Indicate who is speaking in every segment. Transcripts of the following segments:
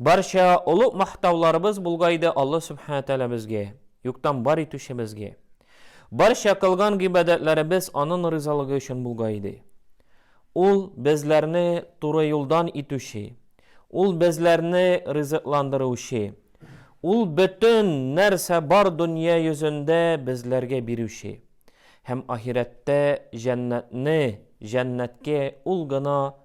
Speaker 1: Барча олуг мактауларыбыз булгайды Алла Субхана Тәгалә безгә, юктан бар итүчебезгә. Барча кылган гыйбадәтләребез анын ризалыгы өчен булгайды. Ул безләрне туры юлдан итүче, ул безләрне ризыкландыручы, ул бөтен нәрсә бар дөнья йөзендә безләргә бирүче. Һәм ахирәттә җәннәтне, җәннәткә ул гына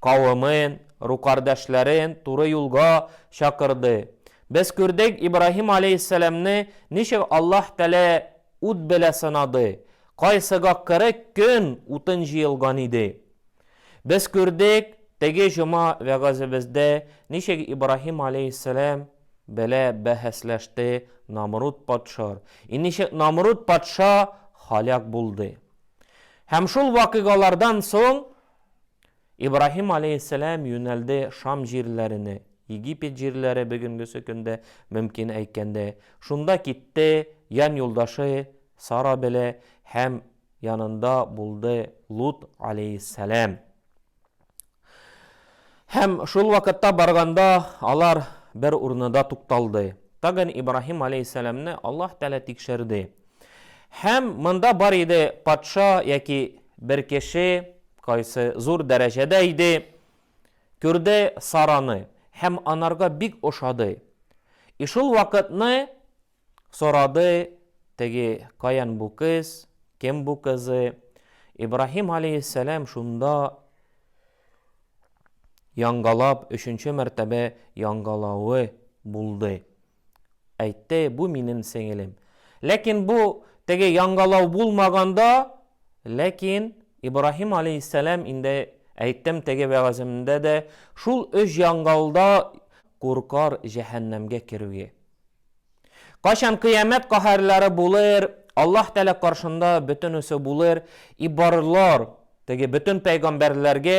Speaker 1: Кавемен, рукардәшләрен туры юлга чакырды. Без күрдек Ибраһим аләйһиссәламне ничек Аллаһ Тәгалә ут белә сынады, кайсыга кырык көн утын җыелган иде. Без күрдек теге җома вәгазебездә ничек Ибраһим аләйһиссәлам белә бәһәсләште Намруд патша и ничек Намруд патша һаляк булды. Һәм шул вакыйгалардан соң Ибраһим аләйһиссәлам юнәлде Шам җирләренә, Египет җирләре бөгенгесе көндә, мөмкин әйткәндә. Шунда китте, ян юлдашы Сара белә һәм янында булды Лут аләйһиссәлам. Һәм шул вакытта барганда алар бер урынада тукталды. Тагын Ибраһим аләйһиссәламне Аллаһ Тәгалә тикшерде. Һәм монда бар иде патша яки бер кеше, кайсы зур дәрәҗәдә иде, күрде Сараны һәм анарга бик ошады. И шул вакытны сорады теге каян бу кыз, кем бу кызы. Ибраһим алейһиссәлам шунда яңгалап, өченче мәртәбә яңгалавы булды. Әйтте, Бу минем сеңелем. Ләкин бу теге яңгылау булмаганда, ләкин Ибраһим алейһиссәлам инде әйттем теге вәгаземдә дә, шул өч яңгылда куркар җәһәннәмгә керүгә. Кайчан кыямәт каһәрләре булыр, Аллаһ Тәгалә каршында бөтенесе булыр, и барлар, теге бөтен пәйгамбәрләргә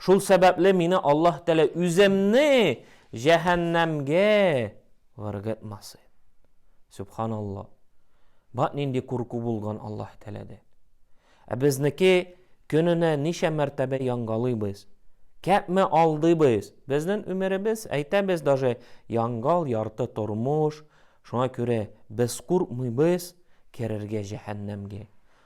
Speaker 1: Шул сәбәпле мине Аллаһ Тәгалә үземне җәһәннәмгә гыргытмасын. Сөбханалла. Бат нинди курку булган Аллаһ Тәгаләдән. Ә безнеке көненә ничә мәртәбә янгалыйбыз? Кәпме алдыйбыз? Безнең өмеребез, әйтәбез даже, янгал, ярты тормыш. Шуңа күрә без куркмыйбыз керергә җәһәннәмгә.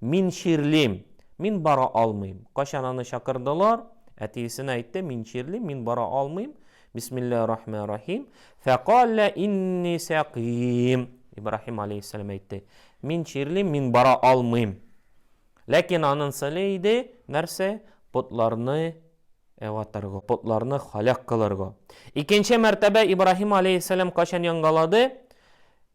Speaker 1: Мин чирлим, мин бара алмыйм. Кайчан аны чакырдылар, әтиесенә әйтте, мин чирлим, мин бара алмыйм. Бисмиллаһи рахмани рахим. Фәкалә инни сәкыйм. Ибраһим алейхиссәлам әйтте, мин чирлим, мин бара алмыйм. Ләкин анын сыле иде, нәрсә? Потларны ватырга, потларны халәк кылырга. Икенче мәртәбә Ибраһим алейхиссәлам кайчан яңгалады?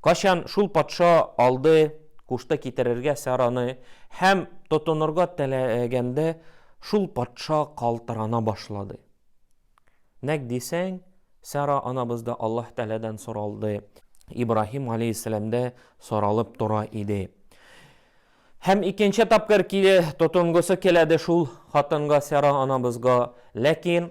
Speaker 1: Качан шул патша алды, кушты китерергә Сараны, һәм тотынырга теләгәндә, шул патша калтырана башлады. Нәкъ дисәң, Сара анабыз да Аллаһ Тәгаләдән соралды, Ибраһим галәйһиссәлам да соралып тора иде. Һәм икенче тапкыр тотынгысы киләде шул хатынга, Сара анабызга, ләкин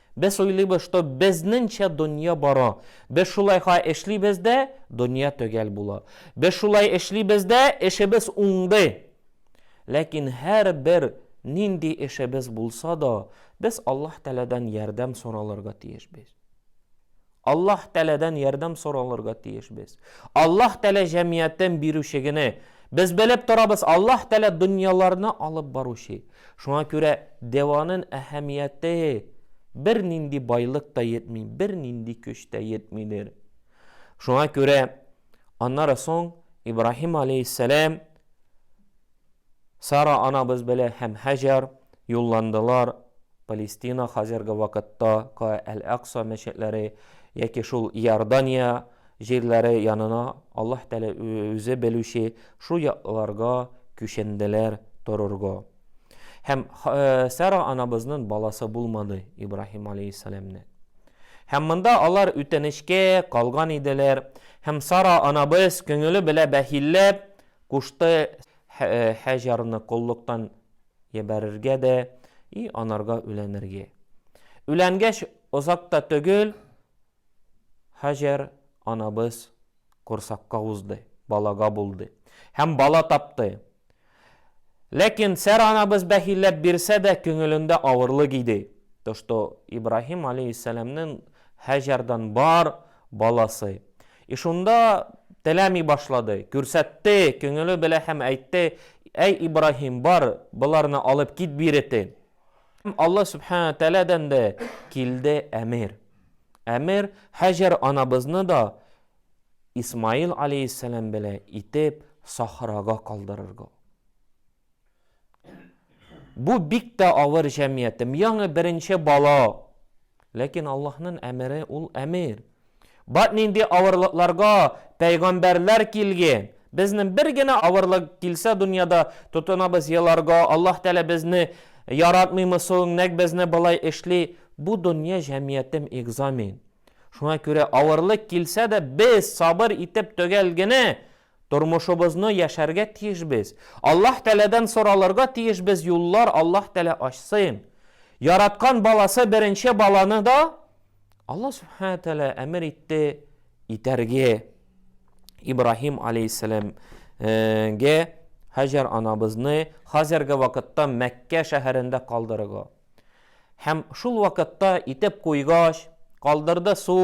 Speaker 1: Без уйлыйбыз, что безнеңчә дөнья бара. Без шулай ха эшлибез дә, дөнья төгәл була. Без шулай эшлибез дә, эшебез уңды. Ләкин һәрбер нинди эшебез булса да, без Аллаһ Тәгаләдән ярдәм соралырга тиешбез. Аллаһ Тәгаләдән ярдәм соралырга тиеш без. Аллаһ Тәгалә җәмиятен бирүчегене без белеп торабыз, Аллаһ Тәгалә дөньяларны алып баручы. Шуңа күрә дәванын әһәмияте бер нинди байлык та йетми, бер нинди көч тә йетмидер. Шуңа күрә аннары соң Ибраһим алейһиссәлам Сара анабыз белә һәм Һаҗәр юлландылар Палестина, хәзерге вакытта ка Әл-Акса мәчетләре, яки шул Иордания җирләре янына, Аллаһ Тәгалә үзе белүче, шул якларга күченделәр торырга. Һәм Сара анабызнын баласы булмады Ибраһим аләйһиссәламнең. Һәм монда алар үтенечкә калган иделәр, һәм Сара анабыз күңеле белә бәхилләп, Кушты Һаҗәрне коллыктан ебәрергә дә и анарга үләнергә. Үләнгәч, озак та төгел, Һаҗәр анабыз корсакка узды, балага булды һәм бала тапты. Ләкин Сәра анабыз бәхилләп бирсә дә, күңелендә авырлык иде, то что Ибраһим алейһиссәламнең Һаҗәрдан бар баласы, И шунда теләми башлады. Күрсәтте, күңеле белә һәм әйтте, Әй Ибраһим, бар, боларны алып кит биретен. Һәм Алла Сүбхәнәһү Тәгаләдән дә килде әмер. Әмер Һаҗәр анабызны да Исмаил аләйһиссәлам белә итеп сахрага калдырырга. Бу бик тә авыр җәмиятем. Яңы беренче бала. Ләкин Аллаһның әмере ул әмер. Бат нинди авырлыкларга пәйгамбәрләр килген. Безнең бер генә авырлык килсә дөньяда, тотынабыз еларга, Аллаһ Тәгалә безне яратмыймы соң, нәкъ безне болай эшли? Бу дөнья җәмиятем экзамен. Шуңа күрә авырлык килсә дә без сабыр итеп төгәл генә Тормышыбызны яшәргә тиеш без. Аллаһ Тәгаләдән соралырга тиеш без юллар Аллаһ Тәгалә ачсын. Яраткан баласы беренче баланы да Аллаһ Сүбхәнә Тәгалә әмер итте итәргә. Ибраһим алейһиссәлам гә Һаҗәр анабызны хәзерге вакытта Мәккә шәһәрендә калдырырга. Һәм шул вакытта итеп куйгач, калдырды су,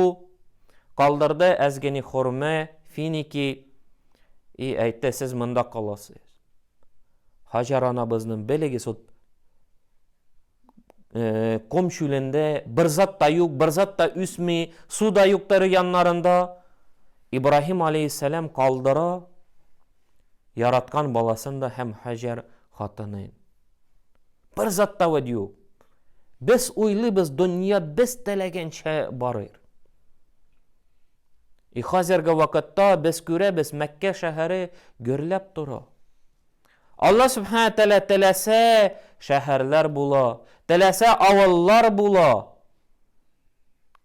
Speaker 1: калдырды әзгени хөрмә, финики, и әйтте, сез монда каласыз. Хаҗар анабызның белегез ут э, ком чүлендә бер зат та юк, бер зат та үсми, су да юк тәре яннарында. Ибраһим алейхиссалам калдыра яраткан баласын да һәм Хаҗар хатынын. Бер зат та вәд юк. Без уйлыйбыз, дөнья без теләгәнчә барыр. И хәзерге вакытта без күрәбез, Мәккә шәһәре гөрләп тора. Алла Субхана Тәлә теләсә шәһәрләр була, теләсә авыллар була.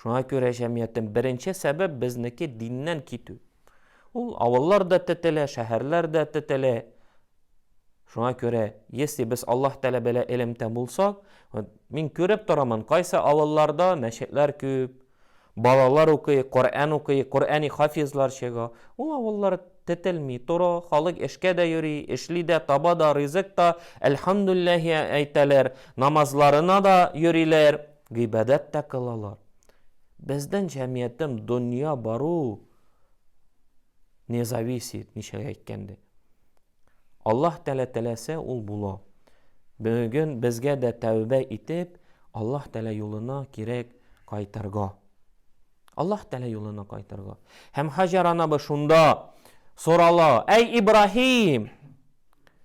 Speaker 1: Шуңа күрә җәмгыятьтән беренче сәбәп безнеке диннән китү. Ул авыллар да тетелә, шәһәрләр дә тетелә. Шуңа күрә, если без Аллаһ Тәгалә белә элемтә булсак, мин күреп торамын, кайсы авылларда мәчетләр күп, балалар укый, Коръән укый, Коръәни хафизлар чыга. Ул авыллар тетелми, туры, халык эшкә дә йөри, эшли дә, таба да, ризык та, әлхәмдүлләһи әйтәләр, намазларына да йөриләр, гыйбадәт тә кылалар. Безнең җәмгыятем дөнья бару не зависит, ничәгә әйткәндә. Аллаһ Тәгалә теләсә, ул була. Бүген безгә дә тәүбә итеп, Аллаһ Тәгалә юлына кирәк кайтырга. Аллаһ Тәгалә юлына кайтырга. Һәм Хаҗар анабы шунда сорала, Әй Ибраһим,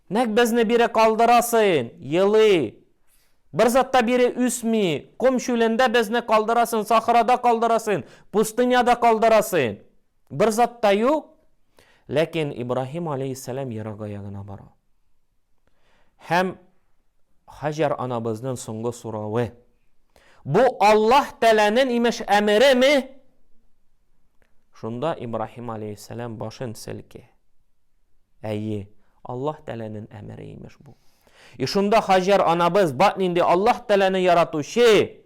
Speaker 1: нәк безне бире калдырасың, елый, бер затта бире үсми, ком чүлендә безне калдырасың, сахрада калдырасың, пустыняда калдырасың. Бер затта юк. Ләкин Ибраһим алейхиссалам ерак аягына бара. Һәм Хаҗәр анабызның соңгы соравы, Бу Аллаһ Тәгаләнең, имеш, әмереме? Шунда Ибраһим алейһиссәлам башын селки. Әйе, Аллаһ Тәгаләнең әмере, имеш, бу. И шунда Хаҗәр анабыз, Бак нинди Аллаһ Тәгаләне яратучы!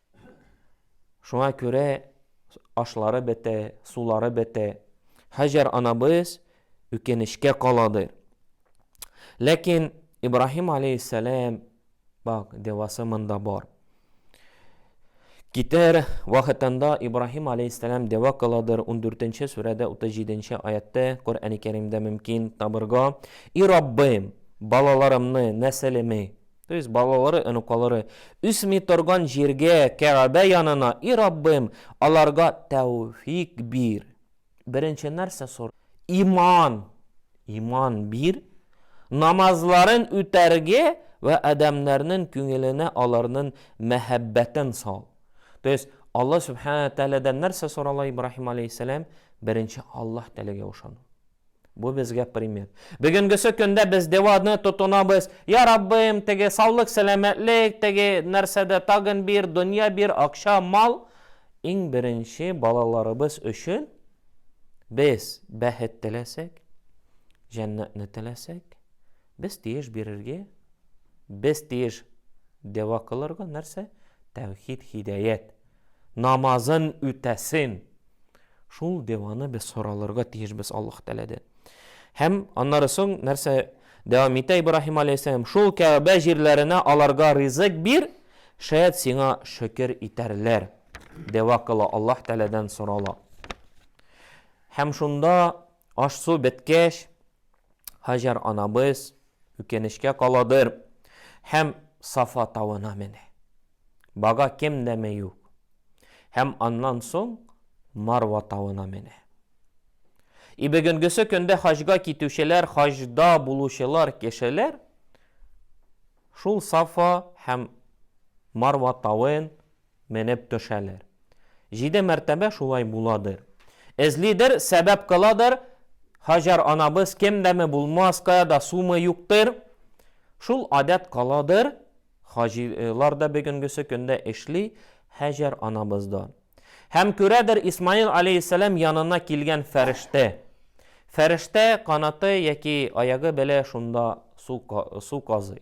Speaker 1: Шуңа күрә ашлары бетә, сулары бетә. Һаҗәр анабыз үкенечкә каладыр. Ләкин Ибраһим аләйһиссәлам бак девасы монда бар. Китәр вакытында Ибраһим аләйһиссәлам дева каладыр 14-нче сүрәдә 37-нче аятта Коръәни Кәримдә мөмкин табырга. И Раббым, балаларымны, нәселеме То есть балалары, онуклары үсми торган җиргә, Кәгабә янына, и Раббым, аларга тәүфик бир. Беренче нәрсә сор. Иман. Иман бир. Намазларын үтәргә вә адәмнәрнең күңеленә аларның мәхәббәтен сал. То есть Алла Сүбхәнәһү тәгаләдән нәрсә сорала Ибраһим алейһиссәлам? Беренче Аллаһ теләгә ышану. Бу безгә пример. Бүгенгесе көндә без деваны тотынабыз. Я Раббым, теге саулык, сәламәтлек, теге нәрсәдә тагын бир, дөнья бир, акча, мал. Иң беренче балаларыбыз өчен без бәхет теләсәк, җәннәтне теләсәк, без тиеш бирергә, без тиеш дева кылырга нәрсә? Тәүхид, хидәят. намазын үтәсен. Шул деваны без соралырга тиешбез Аллаһ Тәгаләдә. Һәм аннары соң нәрсә дәвам итә Ибраһим алейһиссәлам? Шул Кәгъбә җирләренә аларга ризык бир, шәят сиңа шөкер итәрләр. Дәва кыла, Аллаһ Тәгаләдән сорала. Һәм шунда аш-су беткәч, Һаҗәр анабыз үкенечкә каладыр һәм Сафа тавына менә. Бага кем дәме юк. Һәм аннан соң Марва тавына менә. И бөгенгесе көндә хаҗга китүчеләр, хаҗда булучылар кешеләр шул Сафа һәм Марва тавын Менеп төшәләр. Җиде мәртәбә шулай буладыр. Эзлидер, сәбәп кыладыр. Һаҗәр анабыз кемдәме булмас, каяда сумы юктыр. Шул адәт каладыр. Хаҗилар да бөгенгесе көндә эшли, Һаҗәр анабыз да. Һәм күрәдер Исмаил аләйһиссәлам янына килгән фәрештә. Фәрештә канаты яки аягы белә шунда су казый.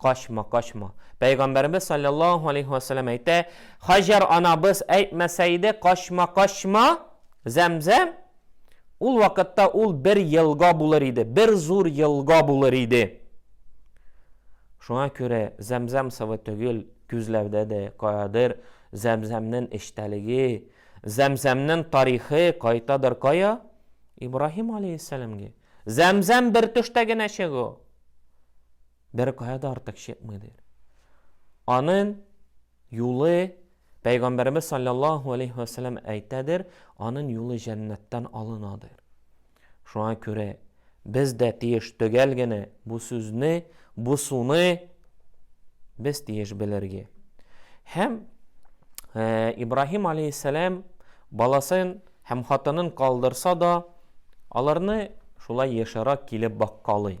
Speaker 1: Качма, качма. Пәйгамбәребез салләллаһу алейһи вә сәлләм әйтә, Хаҗар анабыз әйтмәсә иде, качма, качма, Зәмзәм, ул вакытта ул бер елга булыр иде, бер зур елга булыр иде. Шуңа күрә Зәмзәм савы түгел, күзләрдә дә каядыр Зәмзәмнең эчтәлеге, Зәмзәмнең тарихы кайтадыр кая? Ибраһим алейһиссәламгә. Зәмзәм бер төштә генә чыгу. Беркая да артык чыкмый, дир. Анын юлы, Пәйгамбәребез саллаллаху алейхи ва саллям әйтәдер, анын юлы җәннәттән алына, дир. Шуңа күрә без дә тиеш төгәл генә бу сүзне, бу суны без тиеш белергә. Һәм э, Ибраһим алейхиссалам баласын һәм хатынын калдырса да, аларны шулай ешырак килеп баккалый.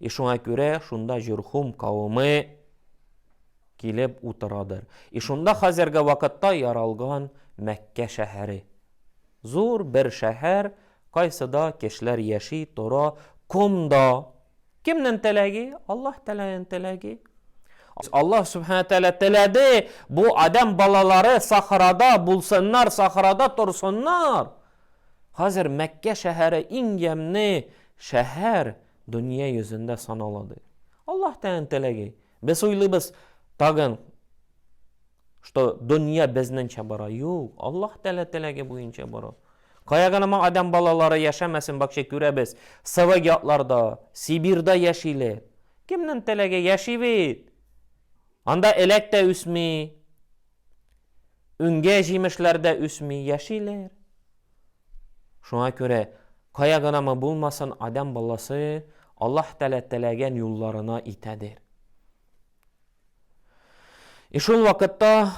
Speaker 1: И шуңа күрә шунда Җөрхүм кавеме килеп утырадыр. И шунда хәзерге вакытта яралган Мәккә шәһәре. Зур бер шәһәр, кайсыда кешеләр яши, тора, комда. Кемнен теләге? Аллаһ Тәгаләнең теләге. Аллаһ Сүбхәнә Тәгалә теләде, бу Адәм балалары сахрада булсыннар, сахрада торсыннар. Хәзер Мәккә шәһәре иң ямьне шәһәр, Дөнья йөзендә санала, ди. Аллаһ тәен теләге. Без уйлыйбыз тагын, что дөнья безненчә бара. Юк, Аллаһ тәлә теләге буенча бара. Кая гына моң адәм балалары яшәмәсен, бакча күрәбез. Сывык ятларда, Сибирда яшиле. Кемнен теләге яши бит. Анда эләк тә үсми. Үңгә җимешләрдә үсми, яшиләр. Шуңа күрә, кая гынамы булмасын, адәм баласы Аллаһ Тәгалә теләгән юлларына итәдер. И шул вакытта,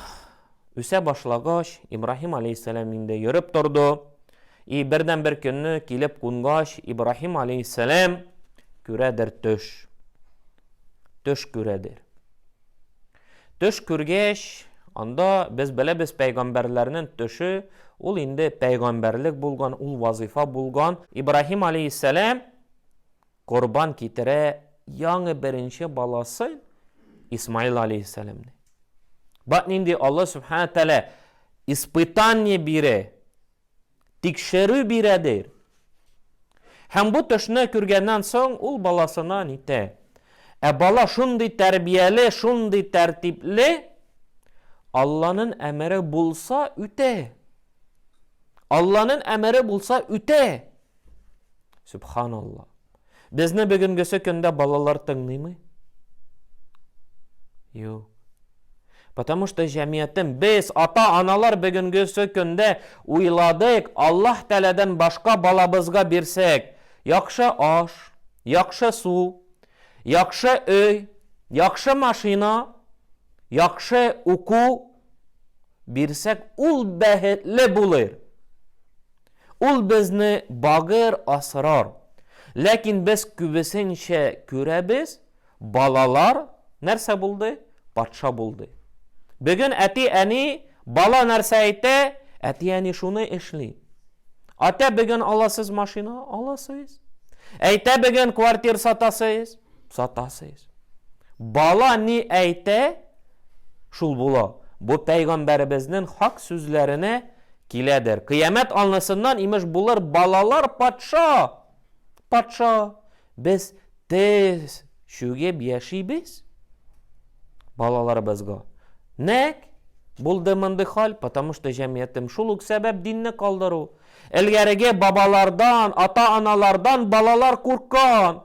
Speaker 1: үсә башлагач, Ибраһим алейһиссәлам инде йөреп торды. И бердән-бер көнне килеп кунгач, Ибраһим алейһиссәлам күрәдер төш. Төш күрәдер. Төш күргәч, анда без беләбез пәйгамбәрләрнең төше, ул инде пәйгамбәрлек булган, ул вазыйфа булган. Ибраһим алейһиссәлам корбан китерә яңы беренче баласы Исмаил алейһиссәламне. Бак нинди Алла Сүбхәнә Тәгалә испытание бирә. Тикшерү бирәдер. Һәм бу төшне күргәннән соң ул баласына нитә. Ә бала шундый тәрбияле, шундый тәртипле, Алланын әмере булса үтә. Алланын әмере булса үтә. Субханалла. Безне бүгенгесе көндә балалар тыңлыймы? Юк. Потому что җәмиятем, без, ата-аналар бүгенгесе көндә уйладык, Аллаһ Тәләдән башка балабызга бирсәк, яхшы аш, яхшы су, яхшы өй, яхшы машина, яхшы уку бирсәк, ул бәхетле булыр. Ул безне багыр асрар. Ләкин без күбесенчә күрәбез, балалар нәрсә булды? Патша булды. Бүген әти-әни, бала нәрсә әйтә, әти-әни шуны эшли. Атә бүген аласыз машина, аласыз. Әйтә бүген квартир сатасыз, сатасыз. Бала ни әйтә, шул була. Бу пәйгамбәребезнең хак сүзләренә Киләдер. Кыямәт алнысыннан, имеш, булыр балалар патша! Патша! Без тез чүгеп яшибез балаларыбызга. Нәк булды мондый хәл, потому что җәмгыятем шул ук сәбәп динне калдыру. Элгәреге бабалардан, ата-аналардан балалар курккан.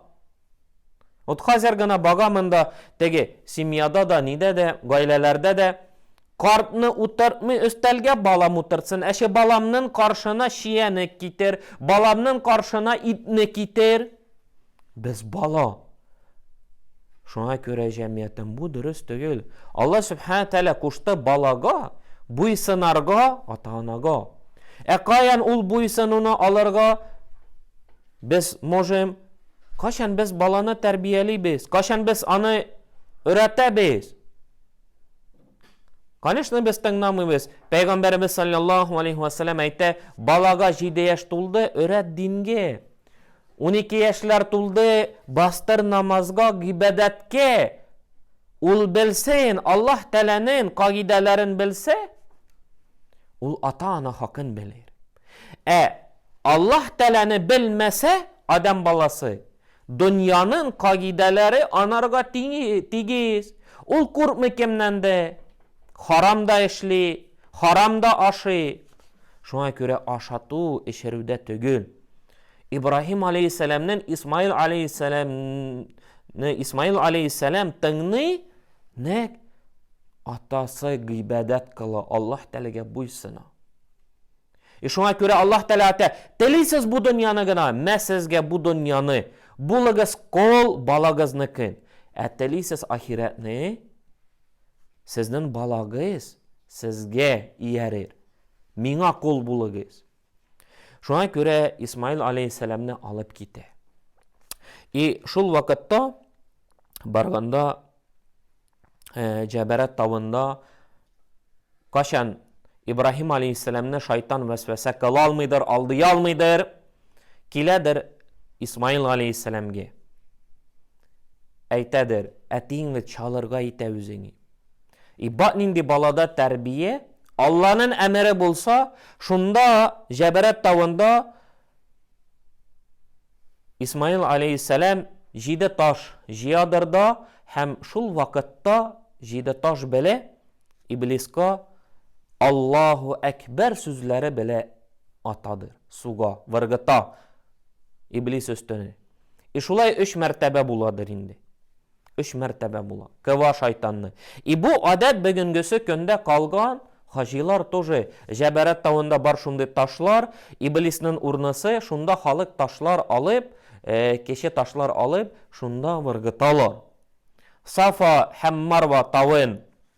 Speaker 1: Вот хәзер гына бага монда теге семьяда да, нидә дә, гаиләләрдә дә Картны утыртмый өстәлгә балам утыртсын, әче баламнын каршына чияне китер, баламнын каршына итне китер. Без бала. Шуңа күрә җәмгыятем бу дөрес түгел. Алла Сүбхәнә Тәгалә кушты балага буйсынарга ата-анага. Ә каян ул буйсынуны алырга без можем? Кайчан без баланы тәрбиялибез? Кайчан без аны өйрәтәбез? Конечно, без тыңламыйбыз. Пәйгамбәребез саллаллаху алейхи ва саллям әйтә, балага 7 яшь тулды, өрәт динге. 12 яшьләр тулды, бастыр намазга, гыйбадәткә. Ул белсен, Аллаһ Тәгаләнең кагыйдәләрен белсә, ул ата-ана хакын белер. Ә Аллаһ Тәгаләне белмәсә, адәм баласы, дөньянын кагыйдәләре анарга тигез. Ул куркмый кемнән дә, харам да эшли, харам да ашый. Шуңа күрә ашату, эчерүдә төгел. Ибраһим алейһиссәламнен Исмаил алейһиссәламне Исмаил алейһиссәлам тыңный, нәк атасы гыйбадәт кыла, Аллаһ Тәгаләгә буйсына. И шуңа күрә Аллаһ Тәгалә әйтә, Телисез бу дөньяны гына, мә сезгә бу дөньяны, булыгыз кол, балагызныкын. Ә телисез ахирәтне, сезнен балагыз сезгә иярер. Миңа кол булыгыз. Шуңа күрә Исмаил алейһиссәламне алып китә. И шул вакытта барганда э, Җәбәрәт тавында качан Ибраһим алейхиссәламне шайтан вәсвәсә кыла алмыйдыр, алдый алмыйдыр, киләдер Исмаил алейхиссәламгә. Әйтәдер, әтиң бит чалырга итә үзеңе. И бат нинди балада тәрбия, Алланың әмере булса, шунда Җәбәрәт тавында Исмаил алейһиссәлам җиде таш җыядыр да һәм шул вакытта җиде таш беле Иблиска Аллаһу әкбәр сүзләре беле атадыр, суга, выргыта Иблис өстенә. И шулай өч мәртәбә буладыр инде. Өч мәртәбә була. Ква шайтанны. И бу гадәт бөгенгесе көндә калган, хаҗилар тоже, Җәбәрәт тавында бар шундый ташлар, иблиснын урнысы, шунда халык ташлар алып, кече ташлар алып, шунда выргыталар. Сафа һәм Марва тавын.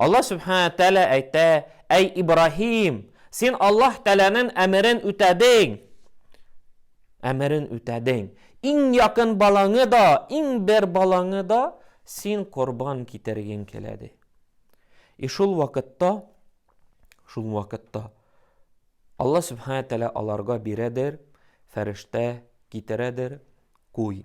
Speaker 1: Аллаһ Сүбхәнә Тәгалә әйтә, Әй Ибраһим, син Аллаһ Тәгаләнең әмерен үтәдең. Әмерен үтәдең. Иң якын балаңы да, иң бер балаңы да син корбан китергең килә ди. И шул вакытта, шул вакытта Аллаһ Сүбхәнә Тәгалә аларга бирәдер, фәрештә китерәдер, куй.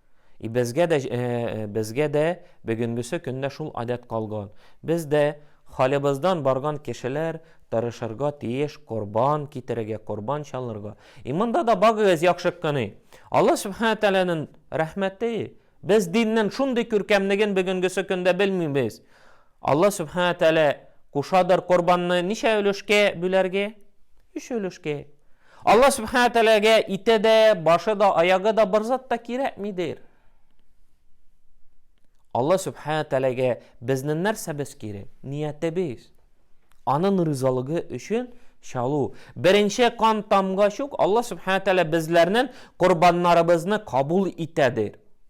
Speaker 1: И безгә дә безгә дә бүгенгесе көндә шул адәт калган. Без дә халебыздан барган кешеләр тырышырга тиеш корбан китерергә, корбан чалырга. И монда да багыгыз яхшы кыны. Алла Субхана Тәгаләнең рәхмәте, без диннең шундый күркәмлеген бүгенгесе көндә белмибез. Алла Сүбхәнә Тәгалә кушадыр корбанны ничә өлешкә бүләргә? Өч өлешкә. Алла Сүбхәнә Тәгаләгә ите дә, башы да, аягы да, бер зат та кирәкмидер. Алла Сүбхәнә Тәгаләгә безнең нәрсәбез кирәк? Ниятебез. Аның ризалыгы өчен чалу. Беренче кан тамгач ук Алла Сүбхәнә Тәгалә безләрнең корбаннарыбызны кабул итәдер.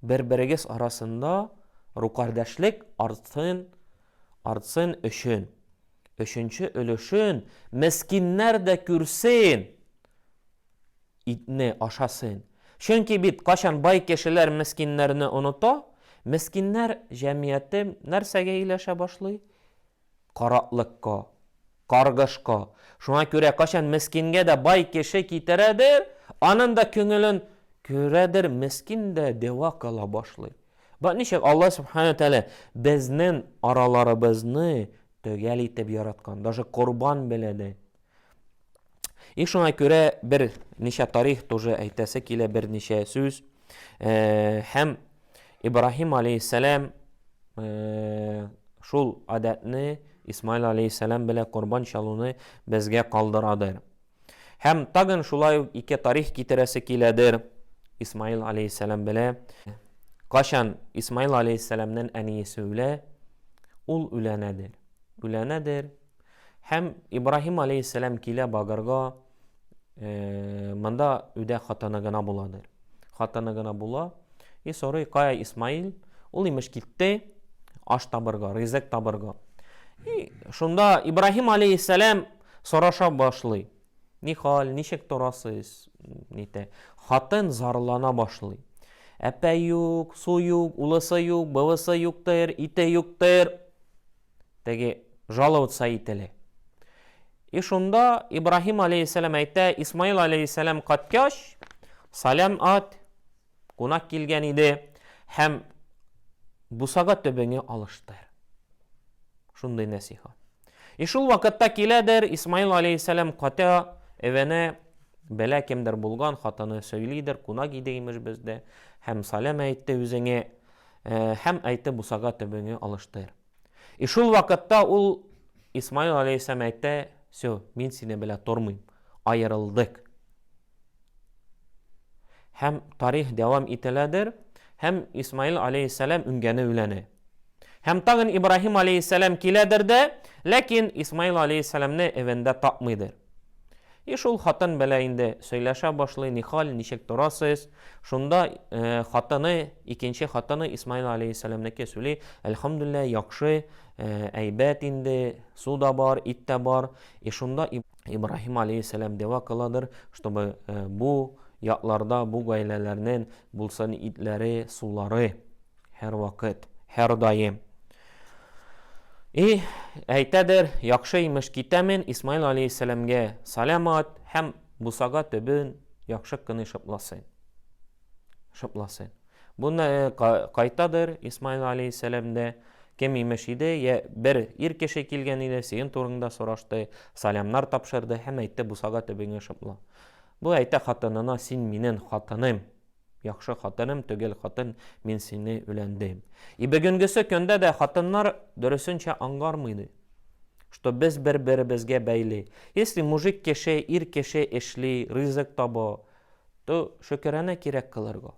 Speaker 1: Бер-берегез арасында рукардәшлек артсын, артсын өчен. Өченче өлешен мескиннәр дә күрсен, итне ашасын. Чөнки бит, кайчан бай кешеләр мескиннәрне оныта, мескиннәр җәмгыяте нәрсәгә ияләшә башлый? Караклыкка, каргышка. Шуңа күрә качан мескингә дә бай кеше китерәдер, анын да күңелен күрәдер, мескин дә дәва кыла башлый. Бак ничек Алла Сүбхәнәһү вә Тәгалә безнен араларыбызны төгәл итеп яраткан, даже корбан беләдә. И шуңа күрә бер ничә тарих тоже әйтәсе килә, бер ничә сүз. Э, һәм Ибраһим алейхиссалам э, шул адәтне Исмаил алейхиссалам белән корбан чалуны безгә калдырадыр. Һәм тагын шулай ук ике тарих китерәсе киләдер Исмаил алейхиссалам белән. Кашан Исмаил алейхиссаламнан әниесе үлә, ул үләнәдер. Үләнәдер, Һәм Ибраһим алейһиссәлам килә Багрга, монда үдә хатыны гына буладыр. Хатыны гына була, и сорый, кая Исмаил? Ул имеш китте аш табырга, ризык табырга. И шунда Ибраһим алейһиссәлам сораша башлый. Ни хәл, ничек торасыз? Нитә. Хатын зарлана башлый. Әпә юк, су юк, улысы юк, бывысы юктыр, ите юктыр. теге жаловать саи теле. И шунда Ибраһим алейхиссалам әйтә, Исмаил алейхиссалам каткач, салям ат кунак килгән иде һәм бусага төбеңе алыштыр. Шундый нәсихат. И шул вакытта киләдер Исмаил алейхиссалам ката эвенә бәлә кемдер булган хатыны сөйлидер, кунак иде имеш бездә һәм салям әйтте үзеңә Һәм әйтте, Бусага төбеңне алыштыр. И шул вакытта ул, Исмаил аләйһиссәлам, әйтте, Все, мин сине белә тормыйм. Аерылдык. Һәм тарих дәвам ителәдер, һәм Исмаил аләйһиссәлам үнгәне үләне. Һәм тагын Ибраһим аләйһиссәлам киләдер дә, ләкин Исмаил аләйһиссәламне эвендә тапмыйдыр. И шул хатын белә инде сөйләшә башлый, нихал, ничек торасыз? Шунда хатыны, икенче хатыны Исмаил алейхиссәламнеке сөйли, әлхәмдүлилләһ, яхшы, әйбәт инде, су да бар, ит тә бар. И шунда Ибраһим алейхиссәлам дәва кыладыр, чтобы бу якларда, бу гаиләләрнең булсын итләре, сулары. Һәрвакыт, һәрдаим. И, әйтәдер, яхшы имеш китәмен Исмаил алейһиссәламгә салам ат һәм бусага төбен яхшы кыны шыпласын. Шыпласын. Буны э, кайтадыр Исмаил алейһиссәламдә кем имеш иде, я бер ир кеше килгән иде, син турыңда сорашты, салямнар тапшырды һәм әйтте бусага төбеңә шыпла. Бу әйтә хатынына син минен хатыным Яхшы хатыным төгел хатын, мин сине үләндем. И бүгенгесе көндә дә хатыннар дөресенчә аңгармыйды, что без бер беребезгә бәйле. Если мужик кеше, ир кеше эшли, ризык таба, то шөкерәнә кирәк кылырга.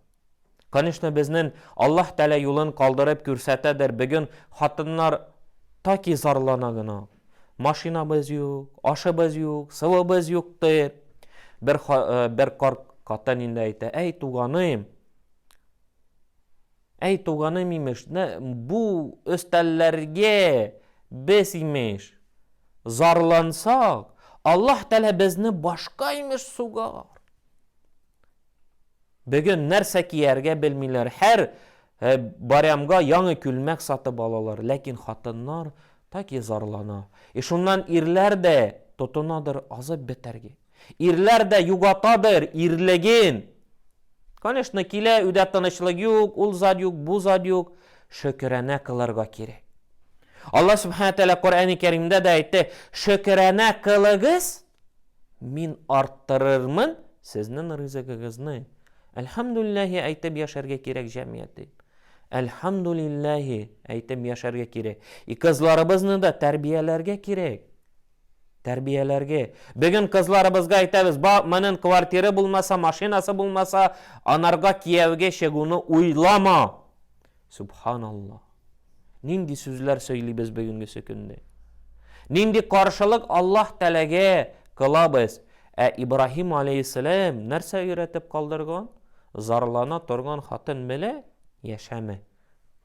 Speaker 1: Конечно, безнен Аллаһ Тәлә юлын калдырып күрсәтәдер, бүген хатыннар таки зарлана гына. Машинабыз юк, ашыбыз юк, сывыбыз юк, ди. Бер, э, бер карт катан инде әйтә, әй туганым, әй туганым имеш, бу өстәлләргә без имеш, зарлансак, Аллаһ Тәлә безне башка имеш сугар. Бүген нәрсә кияргә белмиләр, һәр Ә Барямга яңы күлмәк сатып алалар, ләкин хатыннар таки зарлана. И шуннан ирләр дә тотынадыр азып бетәргә. Ирләр дә югатадыр ирлеген. Конечно, килә, өйдә тынычлык юк, ул зат юк, бу зат юк. Шөкеранә кылырга кирәк. Алла Субхана Тәгалә Коръәни Кәримдә дә әйтте, Шөкеранә кылыгыз, Мин арттырырмын сезнен ризыгыгызны. Әлхәмдүлләһи әйтеп яшәргә кирәк җәмият дип. Әлхәмдүлләһи әйтеп яшәргә кирәк. И кызларыбызны да тәрбияләргә кирәк. Тәрбияләргә. Бүген кызларыбызга әйтәбез, ба, манен квартиры булмаса, машинасы булмаса, анарга кияүгә чыгуны уйлама. Субханаллаһ! Нинди сүзләр сөйлибез бүгенгесе көнне? Нинди каршылык Аллаһ Тәгаләгә кылабыз? Ә Ибраһим алейһиссәлам нәрсә өйрәтеп калдырган? Зарлана торган хатын белә яшәмә.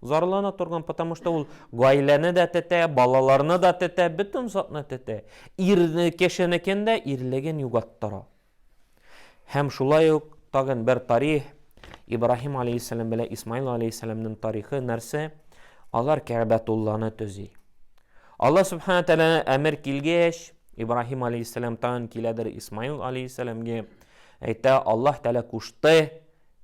Speaker 1: Зарлана торган, потому что ул гаиләне дә тетә, балаларны да тетә, бөтен затны тетә. Ирне, кешенекен дә ирлеген югаттыра. Һәм шулай ук тагын бер тарих, Ибраһим алейһиссәлам белән Исмаил алейһиссәламнең тарихы нәрсә? Алар Кәгъбәтулланы төзи. Алла Субхана Тәгалә әмер килгәч, Ибраһим алейһиссәлам тагын киләдер Исмаил алейһиссәламгә, әйтә, Аллаһ Тәгалә кушты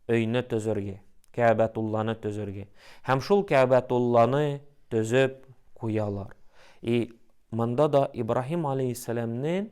Speaker 1: өйне төзергә, Кәгъбәтулланы төзергә. Һәм шул Кәгъбәтулланы төзеп куялар. И монда да Ибраһим алейһиссәламнең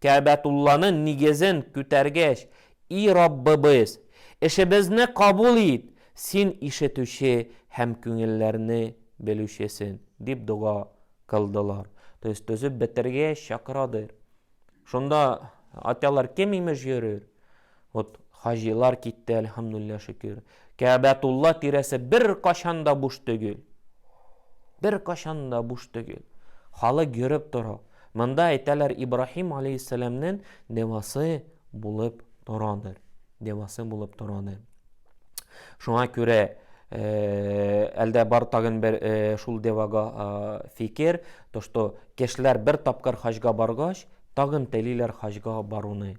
Speaker 1: Кәабәтулланың нигезен күтәргәч, И Раббыбыз! Эшебезне кабул ит, Син ишетүче һәм күңелләрне белүчесен, дип дога кылдылар. То есть төзеп бетергәч, чакырадыр. Шунда атялар кем имеш йөрер? Вот хаҗилар китте, әлхәмдүлилләһ шөкер. Кәәбәтулла тирәсе беркачан да буш төгел. Беркачан да буш төгел. Халык йөреп тора. Монда әйтәләр Ибраһим алейһиссәламнен девасы булып торадыр. Девасы булып торадыр. Шуңа күрә Э, әлдә бар тагын бер э, шул девага э, фикер, то что кешеләр бер тапкыр хаҗга баргач, тагын телиләр хаҗга баруны.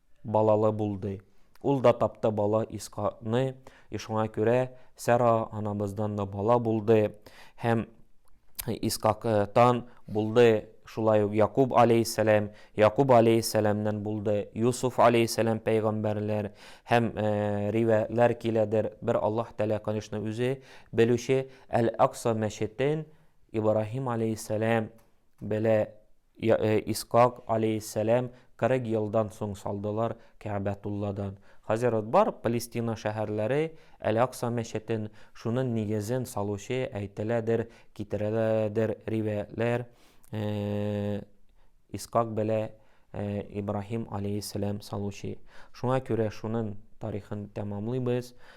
Speaker 1: Балалы булды. Ул да тапты бала Исхакны, и шуңа күрә Сара анабыздан да бала булды, һәм Исхактан булды шулай ук Якуб алейһиссәлам, Якуб алейһиссәламнән булды Юсуф алейһиссәлам пәйгамбәрләр һәм э, ривәятләр киләдер. Бер Аллаһ Тәгалә, конечно, үзе белүче Әл-Акса мәчетен Ибраһим алейһиссәлам белә Исхак аләйһиссәлам 40 елдан соң салдылар Кәгъбәтулладан. Хәзер ут бар, Палестина шәһәрләре, Әл-Акса мәчетен, шунын нигезен салучы, әйтеләдер, китереләдер риваятьләр, Исхак белә Ибраһим аләйһиссәлам салучы. Шуңа күрә шунын тарихын тәмамлыйбыз.